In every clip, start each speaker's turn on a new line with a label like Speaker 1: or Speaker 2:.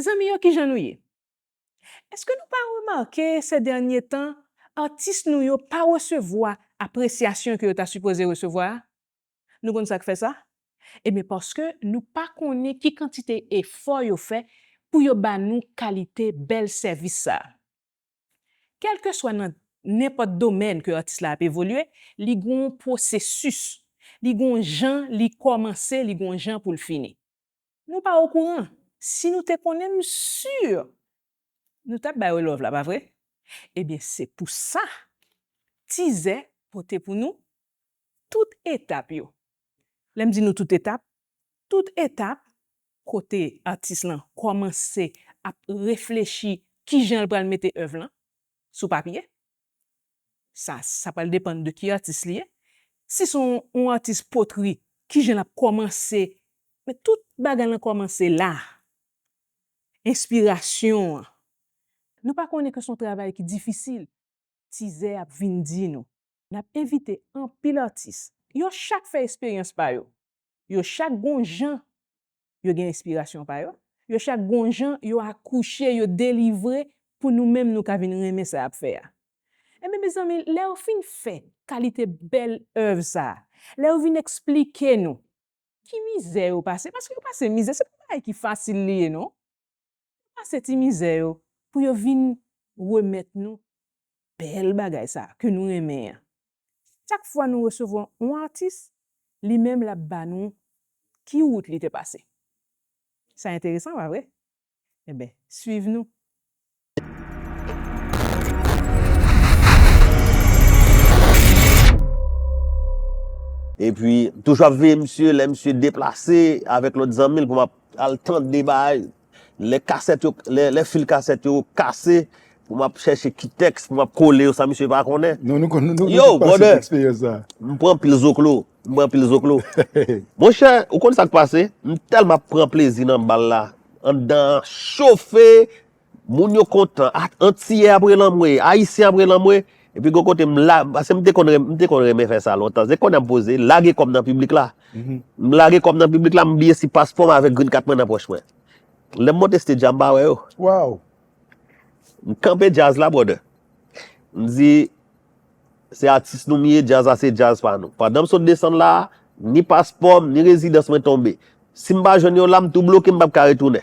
Speaker 1: Zanmi yo kijan nou ye? Eske nou pa remake sè dènye tan atis nou yo pa resevwa apresyasyon ke yo ta sipoze resevwa a? Nou konn sak fè sa? Ebyen paske nou pa konnen ki kantite efò yo fè pou yo ba nou kalite bèl sèvis sa. Kelke swa nan nenpòt domèn ke atis la ap evolye li gonw pwosesis, li gonw jan li kòmanse li gonw jan poul fini. Nou pa okouran, si nou te konnen m sur nou tap bay yo love la pa vre? Ebyen se pou sa Tizè pote pou nou tout etap yo. Lè m di nou tout etap, tout etap kote atis lan kòmanse ap reflechi kijan l pral mete èv lan sou papye, sa sa pral depann de ki atis li ye si son yon atis potri kijan lap kòmanse men tout bagay lan kòmanse la enspirasyon an nou pa konnen ke son travay ki difisil tizè ap vin di nou nap envite anpil atis yo chak fè esperyans pa yo Yo chak gon jan yo gen enspirasyon pa yo, yo chak gon jan yo akouche, yo delivre pou nou menm nou ka vin renmen sa y ap fè a. Enben mezanmi, lè yo fin fè kalite bèl èv sa a, lè yo vin eksplike nou ki mizè yo pase, paske yo pase mizè, se pa bagay ki fasil li ye non. Yo pase ti mizè yo pou yo vin remèt nou bèl bagay sa ke nou renmen an. Chak fwa nou resevwa yon atis, li menm l ap ba nou ki wout li te pase. Sa enteresan pa vre? Enben, swiv nou!
Speaker 2: Epi, m toujou ap veye misye lè misye deplase avèk lòt zanmi l pou m ap Al tande bagay lè kasèt yo lè fil kasèt yo kase pou m ap chèche ki tèks pou m ap kole yo san misye pa konnen Yow
Speaker 3: brother
Speaker 2: m
Speaker 3: pran anpil zoklo
Speaker 2: m pran anpil zoklo Monchè ou konn sa k pase m tèlman ap pran plezi nan bal la anndan an chofe Moun yo kontan, antiyè ap rele anmwe, ayisyen ap rele anmwe, epi gon kote m la, paske m te konn renmen, m te konn renmen fè sa lontan, se konnya m poze lage kòb nan piblik la, m lage kòb nan piblik la, m bliye si paspò m avèk green card mwen nan pòch mwen. Lè m monte stage la m pa wè yo. Waww!
Speaker 3: M
Speaker 2: kanpe djaz la brother. M di, se atis nou m ye, djaz la se djaz pa nou. Pandan m sot desann la, ni paspò m, ni rezidans mwen tonbe. Si m pa jwenn yo la, m tou bloke m pap ka retounen.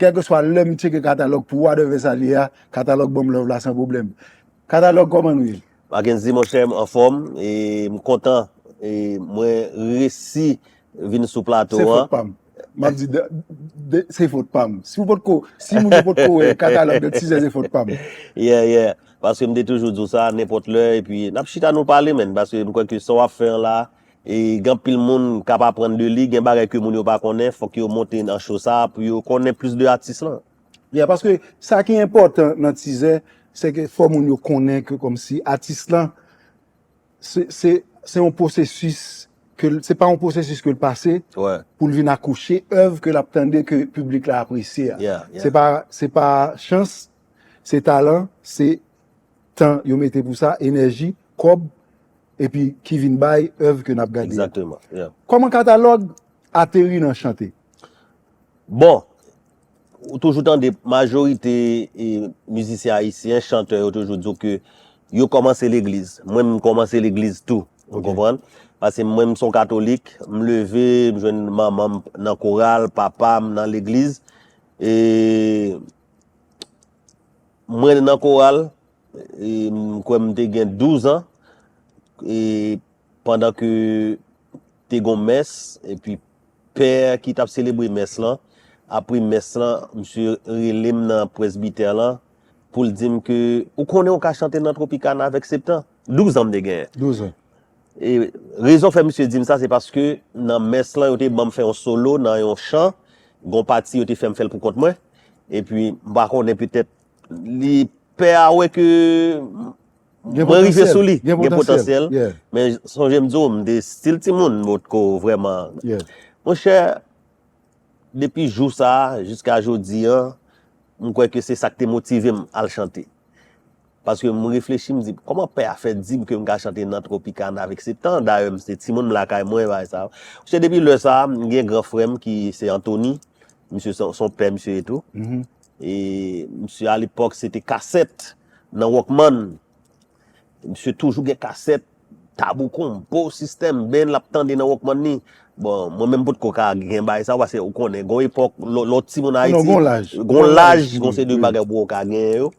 Speaker 3: Kèlkeswa lè m tcheke katalòg pou Wa dè Vèsalye a, katalòg Banm Love la san pwoblèm. Katalòg kòman nou ye? Mackendy monchè m
Speaker 2: anfòm e m kontan e mwen resi vin sou plato an. Se fot pam.
Speaker 3: Map di se fot pam. Si w potko, si moun yo potko wè katalòg Dent Size se fot pam. Yeah yeah,
Speaker 2: paske m te toujou di w sa nenpòt lè epi nap chita nou pale menn paske m kwè ke sa wap fè an la Gen anpil moun kap aprann de li, gen bagay ke moun yo pa konnen, fok yo monte nan show sa pou yo konnen plis de atis lan. Yeah, paske
Speaker 3: sa ki enpòtan nan tizè, se ke fò moun yo konnen ke kòmsi atis lan se se yon pwosesis ke l, se pa yon pwosesis ke l pase pou l vin akouche èv ke l ap tande ke piblik la apresye a.
Speaker 2: Se pa
Speaker 3: chans, se talan, se Tan yo mete pou sa, enèji, kòb, epi ki vin bay èv ke n ap gade a. Kòman katalòg ateri nan
Speaker 2: chante? Bon, ou toujou tande majorite mizisyen ayisyen, chantè yo toujou di w ke yo kòmanse legliz. Mwen m kòmanse legliz tou, ou konprann? Paske mwen m son katolik, m leve, m jwenn manman m nan koral, papa m nan legliz. E. Mwen te nan koral, m kwè m te gen 12 an, e pandan ke te gon mès, e pi pè ki t ap selebre mès lan, apre mès lan, misye rele m nan presbitè lan, pou l di m ke, ou konnen ou ka chante nan Tropicana avèk septen? 12 an m te genyen.
Speaker 3: E
Speaker 2: rezon fè misye dim sa se paske nan mès lan yo te banm fè yon solo nan yon chan, gon pati yo te fèm fèl pou kont mwen, epi m pa konnen petèt li pè a wè ke mwen
Speaker 3: rive sou li,
Speaker 2: gen potansyèl, men sonje
Speaker 3: m di
Speaker 2: w m te stil timoun m potko vrèman, mon chè depi jou sa jiska jodi an m kwè ke se sa k te motive m al chante. Paske m reflechi m di kòman pè a fè di m ke m ka chante nan Tropicana avèk Septan, dayè m se timoun m lakay mwen bagay sa yo. Misye depi lè sa, m gen gran frè m ki se Antoni, misye se yon pè misye ye tou. E misye alepòk se te kasèt nan Walkman. Misye toujou gen kasèt Tabou Combo, System, Ben l ap tande nan Walkman li. Bon, mwen menm m potko ka gen bagay sa yo paske ou konnen gen yon epòk lè w timoun Ayiti, gen yon
Speaker 3: laj, gen yon
Speaker 2: seri de bagay ou poko ka genyen yo.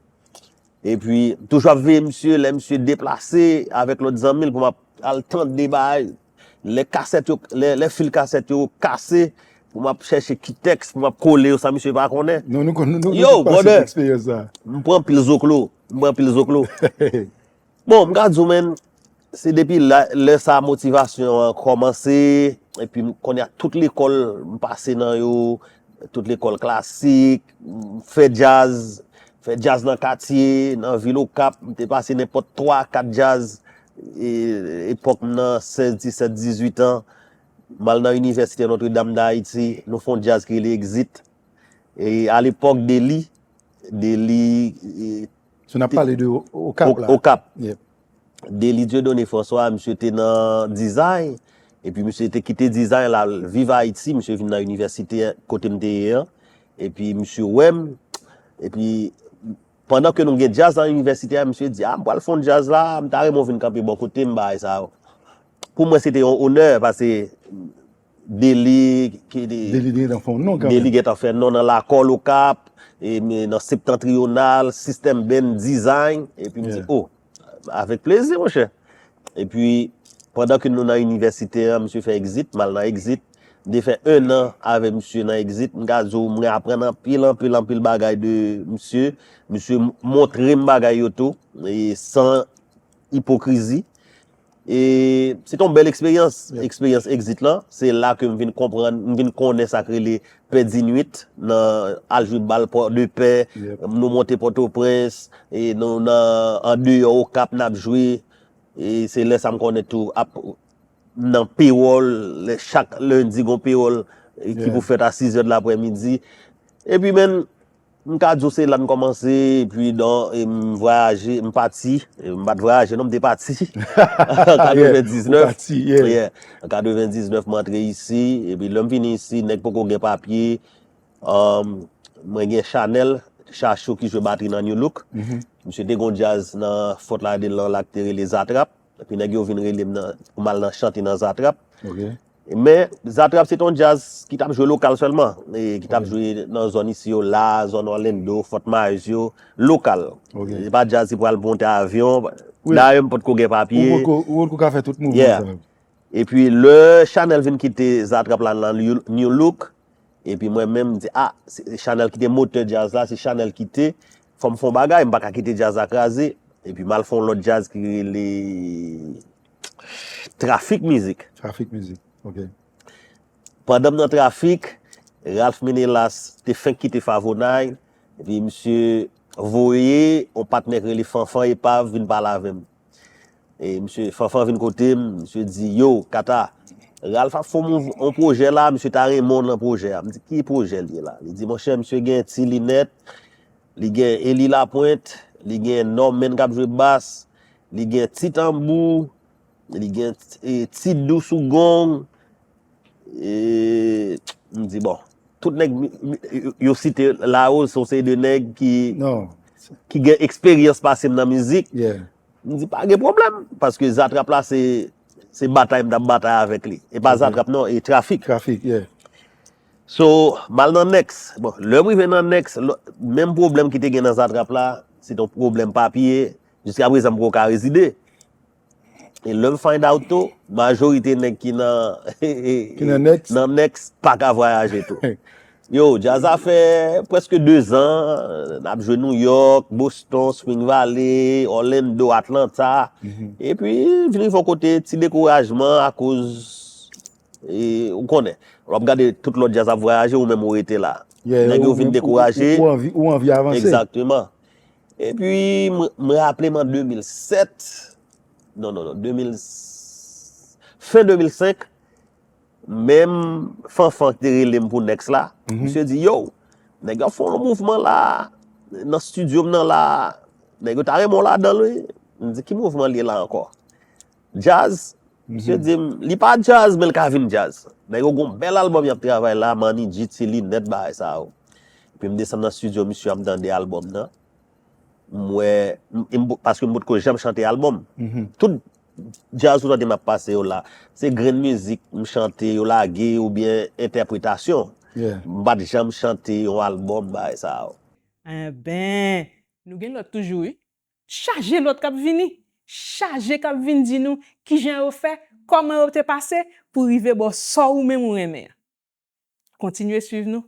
Speaker 2: E pi, m toujou ap veye misye lè misye deplase avèk lòt zanmi l pou m ap al tande bagay. Lè kasèt yo, lè fil kasèt yo kase pou m ap chèche ki tèks pou m ap kole yo san misye pa konnen. Non, nou tout
Speaker 3: pase eksperyans
Speaker 2: sa a. Yo,
Speaker 3: brother!
Speaker 2: M
Speaker 3: pran anpil zoklo,
Speaker 2: m pran anpil zoklo. Bon m ka di w menm se depi lè sa motivasyon an kòmanse epi kounye a tout lekòl m pase nan yo, tout lekòl klasik, m fè djaz, m fè djaz nan katye, nan vil Okap, m te pase nenpòt 3, 4 djaz epòk m nan 16, 17, 18 an, m al nan inivèsite Notre Dame d'Haiti, nou fon djaz ki rele Exit, e alepòk Dely, Dely.
Speaker 3: So nap pale de okap la. Okap. Dely
Speaker 2: Dieudonné François misye te nan dizay, epi misye te kite dizay la al viv Ayiti, misye vin nan inivèsite kote m te ye an, epi misye wè m, epi pandan ke nou gen djaz nan inivèsite a, misye di a m pral fon djaz la, m ta renmen w vin kanpe bò kote m bagay sa yo. Pou mwen se te yon onè pase.
Speaker 3: Deli get an fè non nan
Speaker 2: lakòl okap, nan septentrional, sistèm band dizay, epi m di o, avèk plezi monchè. Epi, pandan ke nou nan inivèsite an, misye fè exit, m al nan exit, m te fè 1 an avè misye nan exit, m ka di w mwen aprann anpil, anpil, anpil bagay de misye, misye montre m bagay yo tou, e san. ipokrizi. E se te yon bèl eksperyans, eksperyans exit lan. Se la ke m vin konprann, m vin konnen sa k rele pè di nwit nan al jwe bal pò de pè. Nou monte Pòtoprens, nou nan andeyò Okap n ap jwe. E se lè sa m konnen tou ap nan pewòl, lè chak lendi gon pewòl ki pou fèt a 6 zè de laprè midi. E pi menn, M ka di w se la n kòmanse epi nan m vwayaje, m pati, m pa t vwayaje non m te pati an 99 m antre isi epi lè m vini isi nèg poko gen papye mwen gen Chanel Chachou ki jwe batri nan Nulook misye te gen yon djaz nan Fort Lauderdale lan la ki te rele Zatrap epi nèg yo vin rele m pou m al chante nan Zatrap. Men, Zatrap se te yon djaz ki t ap jwe lokal sèlman, ki t ap jwe nan zòn isi yo la, zòn Orlando, Fort Myers yo, lokal. Se pa djaz ki pral monte avyon, dayè m pa t ko gen papye. Ou pa t ko ka fè tout
Speaker 3: mouvman sa yo. E
Speaker 2: pi lè Chanel vin kite Zatrap la nan New Look, e pi mwen menm m di a, Chanel ki te motè djaz la, si Chanel kite, fò m fè yon bagay, m pa ka kite djaz la kraze, e pi m al fè yon lòt djaz ki rele. Trafik mizik. Trafik mizik, ok. Pandan m nan trafik, Ralph Menelas te fenk kite Favonay, epi misye voye yon patnè ki rele Fanfan Epav vin pale avè m. E misye, Fanfan vin kote m, misye di, Yo, Kata, Ralph ap fè yon mouv, yon pwojè la, misye ta renmen w nan pwojè a. M di, Ki pwojè l ye la? Li di, Monchè, misye gen ti linèt. Li gen Eli Lapwent, li gen Norman k ap jwe bas, li gen ti tanbou, li gen ti dou sou gong, m di bon, tout nèg yo site la yo se yon seri de nèg
Speaker 3: ki gen
Speaker 2: eksperyans pase m nan mizik, m di
Speaker 3: pa gen
Speaker 2: pwoblèm, paske Zatrap la se batay m t ap batay avèk li, e pa Zatrap non, e Trafik.
Speaker 3: So,
Speaker 2: m al nan next. Bon, lè m rive nan next, lò- menm pwoblèm ki te gen nan Zatrap la, se ton pwoblèm papye, jiska prezan m poko ka rezide. E lè m find out tou, majorite nèg ki nan Ki nan next.
Speaker 3: nan next pa ka
Speaker 2: vwayaje tou. Yo, djaz a fè prèske 2 zan, n ap jwe New York, Boston, Spring Valley, Orlando, Atlanta, epi vin rive yon kote ti dekourajman akoz Ou konnen, lè wap gade tout lòt djaz ap vwayaje ou menm ou rete la. Nèg yo vin
Speaker 3: dekouraje.
Speaker 2: Ou anvi avanse.
Speaker 3: Egzakteman.
Speaker 2: E pi mwen raple m an 2007, non non non, 2000, fen 2005, menm Fanfan ki te rele m pou Next la, misye di, yow, nèg yo ap fè yon mouvman la, nan studio m nan la, nèg yo ta renmen w ladan l wi. M di, ki mouvman li la ankò? Jazz? Misye dim li pa jazz men li ka vin jazz. Nèg yo gon bèl album yap travay la, Manny G ti linèt bagay sa yo. Epi m desann nan studio misye a m tande album nan. M wè, paske m potko janm chante album. Tout jazz ou tande map pase yo la, se grenn mizik m chante yo lage oubyen entèpretasyon. M pat
Speaker 3: janm chante
Speaker 2: yon album bagay sa yo. Ahh ben,
Speaker 1: nou gen lòt toujou wi. Chaje lòt k ap vini. Chaje k ap vin di nou kijan yo fè, kòman yo te pase pou rive bò sa ou menm ou renmen an. Kontinye swiv nou.